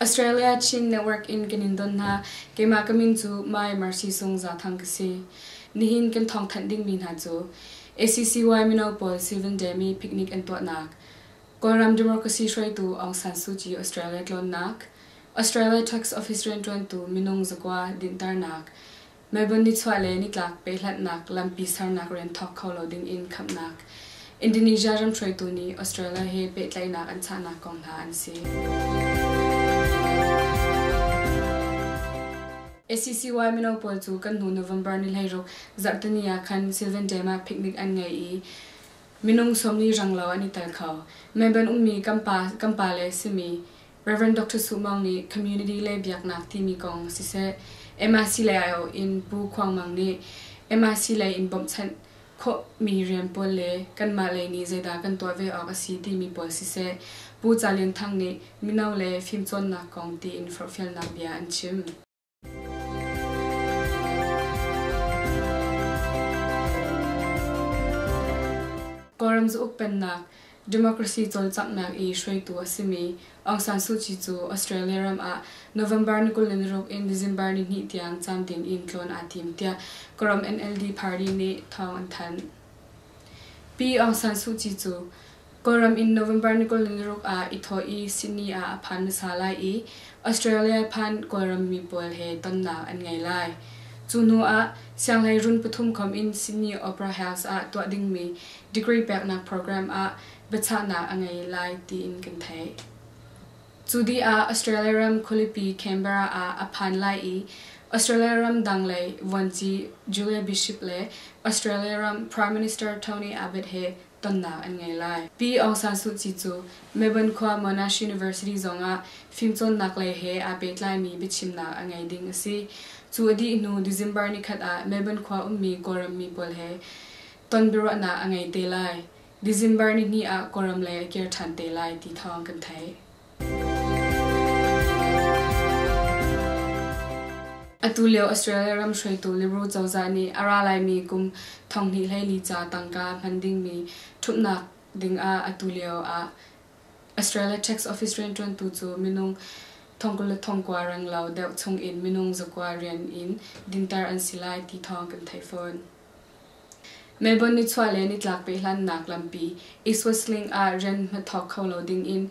Australia Chin Network in kan in don hna. Keimah ka min cu My Mercy Sung Za Thang ka si. Nihin kan thawngthanh dingmi hna cu ACCY mino pawl Seven Demi picnic an tuahnak, Kawlram Democracy hruaitu Aung San Suu Kyi Australia tlawnnak, Australia Trucks Office rianṭuantu minung zakua dinhternak, Melbourne nichuah le nitlak pehhlatnak lampi sernak rian thawk kho lo dingin khamhnak Indonesia ram hruaitu nih Australia he pehtlaihnak an chahnak kong hna an si. ACCY mino pawl cu kan hnu November ni hleiruk zarhteni ah khan Sylvan Dam ah picnic an ngei i minung sawmli ranglo an i tel kho. Melbourne ummi kan pa kan pa le simi Rev. Doctor Suh Maung nih Community le Biaknak timi kong siseh, MIC lei aiawh in Pu Khuang Mang nih MIC lei in bawmhchanh khawhmi rian pawl le kanmah lei nih zeidah kan tuah ve awk a si timi pawl siseh, Pu Ca Lian Thang nih mino le fimcawnnak kong tiin forhfialnak bia an chim. Kawlram zauk pennak democracy cawlcanghnak i hruaitu a simi Aung San Suu Kyi cu Australia ram ah November ni kul ni ruk in December ni hnih tiang camdin in tlawn aa tim tiah Kawlram NLD party nih thawng an thanh. Pi Aung San Suu Kyi cu Kawlram in November ni kul niruk ah i thawh i Sydney ah a phan hmasa lai i Australia phan Kawlram mi pawl he tonnak an ngei lai. Cu hnu ah sianghlei run pathum khawm in Sydney Opera House ah tuah dingmi degree peknak program ah biachahnak a ngei lai tiin kan theih. Cu dih ah Australia ram khualipi Canberra ah a phan lai i Australia ram dang lei vuanci Julia Bishop le Australia ram Prime Minister Tony Abbott he tonnak an ngei lai. Pi Aung San Suu Kyi cu Melbourne khua Monash University zongah fimcawnnak lei he aa pehtlaimi biachimnak a ngei ding a si. Cu a dih hnu December nikhat ah Melbourne khua ummi Kawlram mi pawl he ton biaruahnak a ngei te lai. December nihnih ah Kawlram lei a kir ṭhan te lai ti thawng kan theih. Atulio Australia ram hruaitu Liberal cozah nih a ra laimi kum thonghnih hleili ca tangka hman dingmi ṭhumhnak dingah atulio ah Australia Tax Office rianṭuantu cu minung thongkul le thongkua renglo deuh chungin minung zakua rian in dinter an si lai ti thawng kan theih fawn. Melbourne nichuah le nitlak pehhlannak lampi i Switzerland ah rian hnathawk kho lo dingin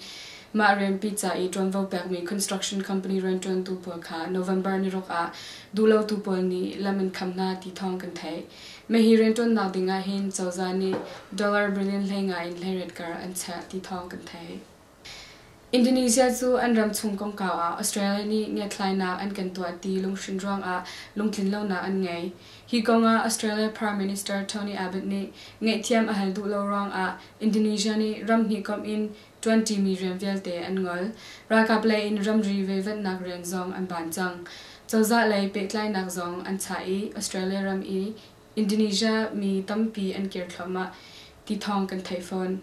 mah rianpi ca i ṭuanvo pekmi construction company rianṭuantu pawl kha November niruk ah duhlotu pawl nih lam an kham hna ti thawng kan theih. Mah hi rianṭuannak dingah hin cozah nih dollar billion hlei ngai in hleiriat kar an chiah ti thawng kan theih. Indonesia cu an ram chung kongkau ah Australia nih ngiatthlainak an kan tuah ti lunghrin ruangah lungtlinlonak an ngei. Hi kongah Australia Prime Minister Tony Abbott nih ngaihthiam a hal duh lo ruangah Indonesia nih ram hnih komh in ṭuanṭimi rian vialte an ngol. Ralkap lei in ramri veivatnak rian zong an ban cang. Cozah lei pehtlainak zong an chah i Australia ram i Indonesia mi tampi an kir thluahmah ti thawng kan theih fawn.